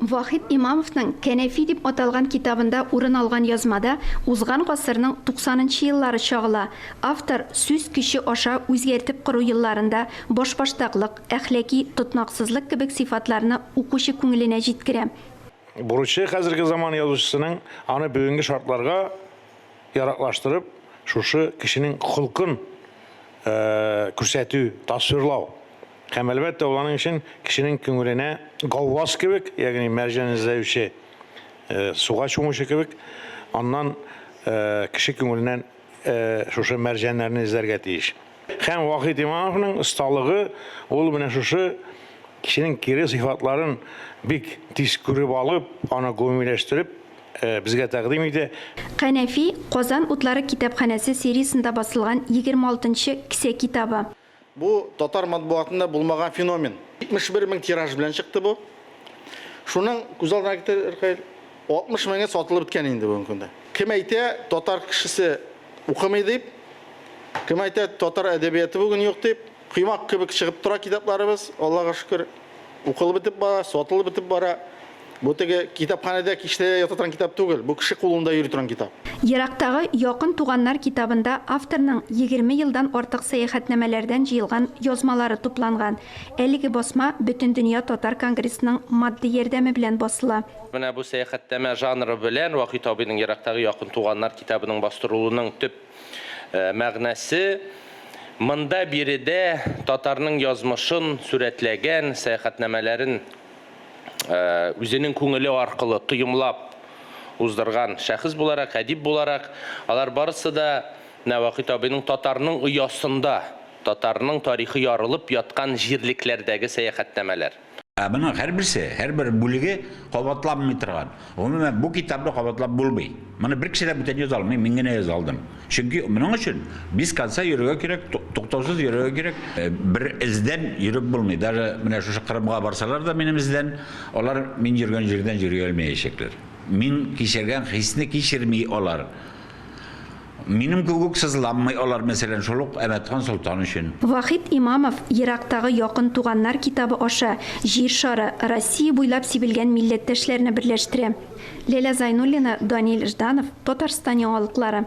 Вахит Имамовның Кәнәфи дип аталган китабында урын алган язмада узган гасырның туксанынчы еллары чагыла, автор сүз көче аша үзгәртеп кору елларында башбаштаклык, әхлаки тотнаксызлык кебек сыйфатларны укучы күңеленә җиткерә. Бурычы хәзерге заман язучысының аны бүгенге шартларга яраклаштырып, шушы кешенең холкын күрсәтү, тасвирлау. Һәм, әлбәттә, ул аның өчен кешенең күңеленә гавваз кебек, ягъни мәрҗән эзләүче, суга чумучы кебек, аннан кеше күңеленнән шушы мәрҗәннәрне эзләргә тиеш. Һәм Вахит Имамовның осталыгы ул менә шушы кешенең кире сыйфатларын бик тиз күреп алып, аны гомумиләштереп безгә тәкъдим итә. Канәфи, Казан утлары китапханәсе сериясендә басылган егерме алтынчы кесә китабы. Бу татар матбугатында булмаган феномен. 71 мең тираж белән чыкты бу. Шуның күз алдына китер, Ркаил, 60 меңе сатылып беткән инде бүгенге көндә. Кем әйтә, татар кешесе укымый дип, кем әйтә, татар әдәбияты бүген юк дип. Коймак кебек чыгып тора китапларыбыз, Аллага шөкер. Укылып бетеп бара, сатылып бетеп бара. Бу теге китапханәдә кичләргә ята торган китап түгел, бу кеше кулында йөри торган китап. Ерактагы якын туганнар китабында авторның егерме елдан артык сәяхәтнамәләрдән җыелган язмалары тупланган. Әлеге басма Бөтендөнья татар конгрессының матди ярдәме белән басыла. Менә бу сәяхәтнамә жанры белән Вахит абыйның Ерактагы якын туганнар китабының бастырылуының төп Мәгънәсе, Монда биредә татарның язмышын сурәтләгән сәяхәтнамәләрен үзенең күңеле аркылы тоемлап уздырган шәхес буларак, әдип буларак, алар барысы да Нәвакыйт абыйның татарның оясында, татарның тарихы ярылып яткан җирлекләрдәге сәяхәтнамәләр. Ә моның һәрберсе, һәрбер бүлеге кабатланмый торган. Гомумән, бу китапны кабатлап булмый. Моны бер кеше дә бүтән яза алмый, мин генә яза алдым. Чөнки моның өчен без конца йөрергә кирәк, туктаусыз йөрергә кирәк. Бер эздән йөреп булмый. Даже менә шушы Кырымга барсалар да минем эздән, алар мин йөргән җирдән йөри алмаячаклар. Мин кичергән хисне кичерми алар. Минем кебек сызланмый алар, мәсәлән, шул ук Әмәтхан солтан өчен. Вахит Имамов Ерактагы якын туганнар китабы аша Җир шары, Россия буйлап сибелгән милләттәшләрне берләштерә. Ләлә Зайнуллина, Данил Жданов, Татарстан яңалыклары.